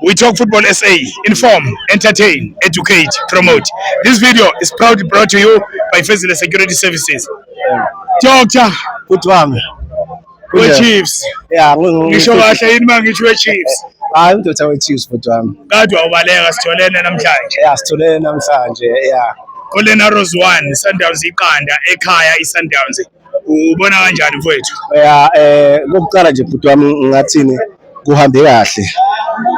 We talk football SA, inform, entertain, educate, promote. This video is proudly brought to you by Fezile Security Services. Doctor, good one. Good Chiefs. Yeah, ngisho kahle yini mangisho we-Chiefs. Hayi udoda we-Chiefs bhuti wami. Kade wawubaleka sitholene namhlanje. Yeah, sitholene namhlanje. Yeah. Colin Arrows 1, Sundowns iqanda ekhaya iSundowns. ubona kanjani mfowethu? Ya eh kokuqala nje bhuti wami ngathini kuhambe kahle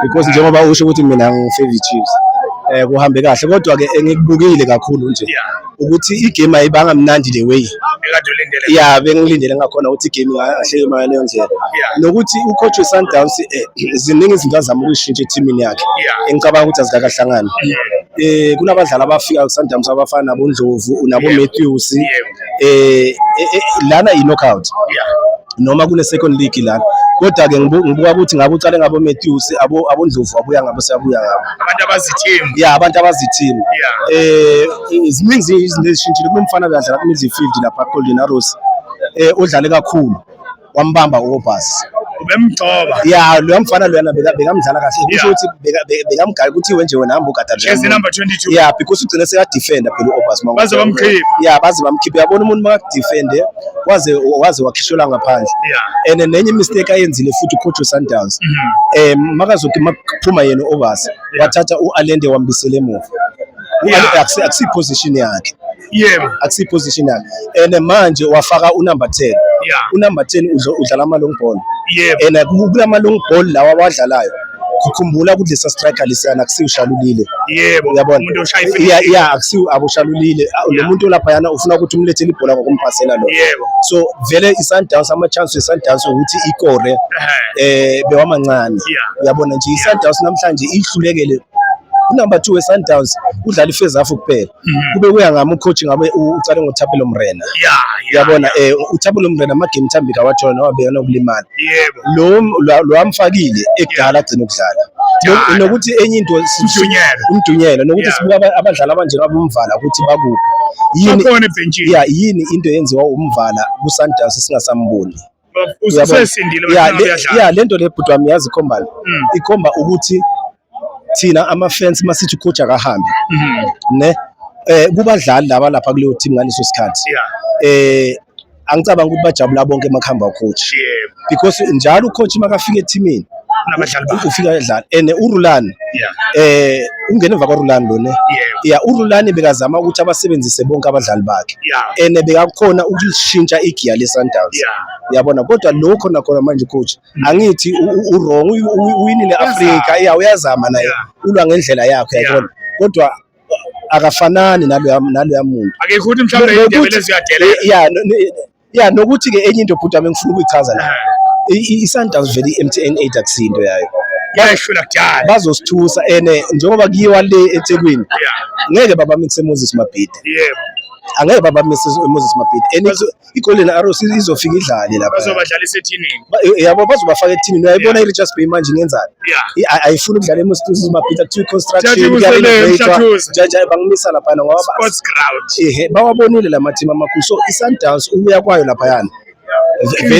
because njengoba usho ukuthi mina ngifavorite Chiefs eh kuhambe kahle kodwa ke engikubukile kakhulu nje ukuthi igame ayibanga mnandi the way ya bengilindele ngakhona ukuthi igame ahleke imali leyo ndlela nokuthi ucoach weSundowns eh, ziningi izinto azama ukuyishintsha ethimini yakhe engicabanga ukuthi azikakahlangani eh kunabadlali abafika kuSundowns abafana nabo Ndlovu nabo Matthews eh, eh, eh lana i knockout yeah noma kune second league lana kodwa ke ngibuka ukuthi ngabe uqale ngabo Matthews abo abondlovu abuya ngabo siyabuya ngabo abantu abazithembu yeah abantu abazithembu eh ziningi izinto ezishintshile kunomfana kadlala ku midfield lapha Golden Arrows eh udlale kakhulu wambamba uRobus ubemgcoba ya loya mfana loyana bekamdlala kahle kusho ukuthi bekamgala ukuthi iwe nje wena hamba ugada nje number 22 ya because ugcine seka defender phela uObas manje baze bamkhiphe ya baze bamkhiphe yabona umuntu maka defender waze waze wakhishela ngaphandle and nenye mistake ayenzile futhi ucoach Sundowns mhm. eh makazothi makuphuma yena uObas wathatha uAlende wambisele emuva akusi position yakhe yebo akusi positional and manje wafaka u number 10 yeah. u number 10 udlala ama long ball yebo and kulama long ball lawa awadlalayo ukhumbula ukuthi lesa striker lesiyana akusiyo ushalulile yebo uyabona umuntu oshaya ifika yeah yeah akusiyo aboshalulile ah, lo muntu lapha yana ufuna ukuthi umlethele ibhola ngokumpasela lo yebo so vele isundowns ama chance isundowns ukuthi ikore eh bewamancane uyabona nje isundowns namhlanje ihlulekele unumber 2 wesundowns udlala ifezafu kuphela Mhm. kube kuya ngami ucoach ngabe ucale ngoThapelo Mrena yabona eh uThapelo Mrena amagame thambika wathona nowabeka nokulimala yebo lo lo amfakile ekudala agcina ukudlala nokuthi enye into umdunyelo umdunyelo nokuthi sibuka abadlali abanje abomvala ukuthi bakuphi yini yini into yenziwa umvala kuSundowns singasamboni ya le nto le bhuti wami yazi ikhombani mm. ikhomba ukuthi thina ama-fans uma sithi ucoach akahambe mm-hmm. ne eh kubadlali laba lapha kuleyo team ngaleso sikhathi eh angicabanga ukuthi bajabula bonke emakhamba coach because njalo ucoach makafika ethimini kunabadlali bakhe ufika edlala and uRulani eh ungena emva kwaRulani lona yeah uRulani bekazama ukuthi abasebenzise bonke abadlali bakhe and bekakhona ukushintsha igiya leSundowns yabona kodwa lokho nakhona manje coach mm. angithi uwrong uwinile Africa yeah uyazama naye ulwa ngendlela yakhe yabona kodwa akafanani naloya naloya muntu akekho ukuthi mhlawumbe indebe leziyadela yeah ya nokuthi-ke enye into bhuti wami engifuna ukuyichaza la i-sundowns vele i-mtn eight akusiyo into yayo yayishula kudala bazosithusa ene njengoba kuyiwa le ethekwini ngeke babamise moses mabhidi yebo angeke babamise moses mabhidi and igolden arrows izofika idlale lapha bazobadlalisa ethinini yabo bazobafaka ethinini uyayibona i-richards bay manje ingenzani ayifuni ukudlala emustuzi mabhida kuthiwa iconstructionjaja bangimisa laphayana ngoba ehe bawabonile la mathimu amakhulu so i-sundowns ukuya kwayo laphayana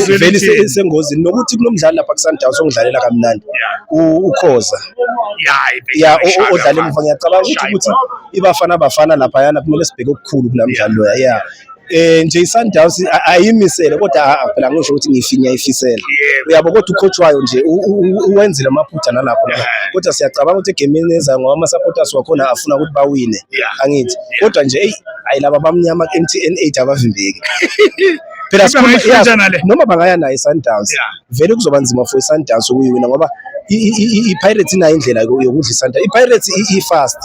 vele isengozini nokuthi kulo mdlali lapha kusundowns ongidlalela kamnandi ukhoza ya odlala emuva ngiyacabanga ukuthi ukuthi ibafana bafana laphayana kumele sibheke okukhulu kula mdlalo loya ya eh nje iSundowns ayimisele kodwa ah, phela ngisho ukuthi ngifinya ifisela uyabo kodwa ukhotshwayo nje uwenzile amaphutha nalapho kodwa siyacabanga ukuthi egemini ezayo ngoba ama supporters wakhona afuna ukuthi bawine angithi kodwa nje eyi hayi laba bamnyama ku-MTN 8 abavimbeki phela noma bangaya nayo iSundowns yeah. vele kuzoba nzima for iSundowns ukuyiwina ngoba iPirates inayo indlela yokudla iSundowns. IPirates i-fast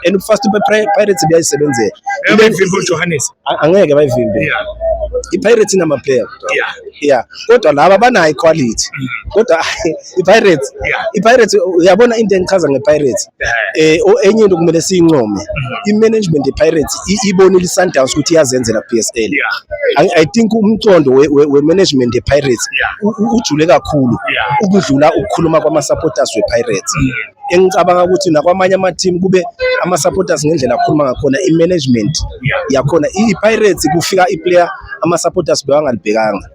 and ukufast iPirates buyayisebenzela. Bayivimbe uJohannes? Angeke bayivimbe. IPirates inama player. Yeah. Yeah. Kodwa laba banayo iquality. Mm. Kodwa iPirates iPirates uyabona into engichaza ngePirates. eh enye into kumele siyincome mm-hmm. i-management ye-pirates ibonile i-sundowns ukuthi iyazenzela PSL i think umcondo we-management ye-pirates ujule kakhulu ukudlula ukukhuluma kwama-supporters we-pirates mm-hmm. engicabanga ukuthi nakwamanye ama-team kube ama-supporters ngendlela akhuluma ngakhona i-management yakhona i-pirates kufika i-player ama-supporters bewangalibhekanga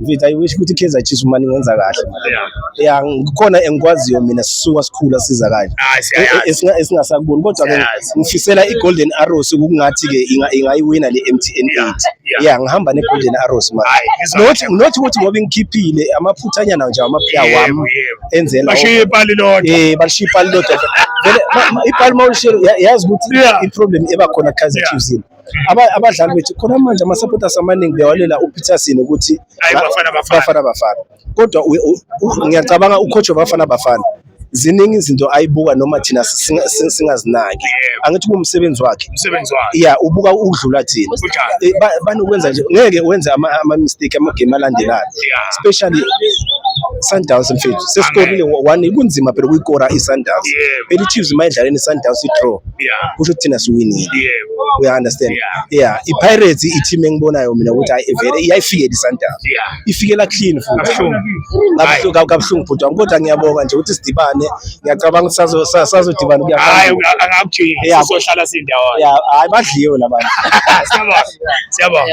mfethu i wish ukuthi kaizer chiefs uma ningenza kahle ya ngikhona engikwaziyo mina sisuka sikhula siza kanje esingasakuboni kodwa ke ngifisela i-golden arrows ukungathi ke ingayiwina le mtn 8 ya ngihamba ne-golden arrows manje not ukuthi ngoba ngikhiphile amaphuthanyana nje amaphya wami enzela bashiye ipali lodwa eh bashiye ipali lodwa vele ipali mawulishiye yazi ukuthi i-problem eba khona kaizer chiefs abadlali bethu khona manje ama-supporters amaningi bewalela upeterson ukuthi bafana bafana kodwa ngiyacabanga ucoach wabafana bafana ziningi izinto ayibuka noma thina singazinaki angithi kuwumsebenzi wakhe ya ubuka udlula thina eh, banokwenza nje ngeke wenze ama-mistake amagame alandelayo especially Sundowns mfethu sesikorile one kunzima phela ukuyikora i-Sundowns belichiefs mayidlaleni i-Sundowns i-draw yeah. kusho ukuthi thina siwinile yeah. uya understand yeah. yeah. i-pirates i-team engibonayo mina ukuthi hayi vele iyayifikela isundowns yeah. ifikela clean futhi kabuhlungu bhuti wami kodwa ngiyabonga nje ukuthi sidibane ngiyacabanga ukuthi sazodibana kuyahayi angakuthi sizohlala sindawo hayi badliwe labantu siyabonga siyabonga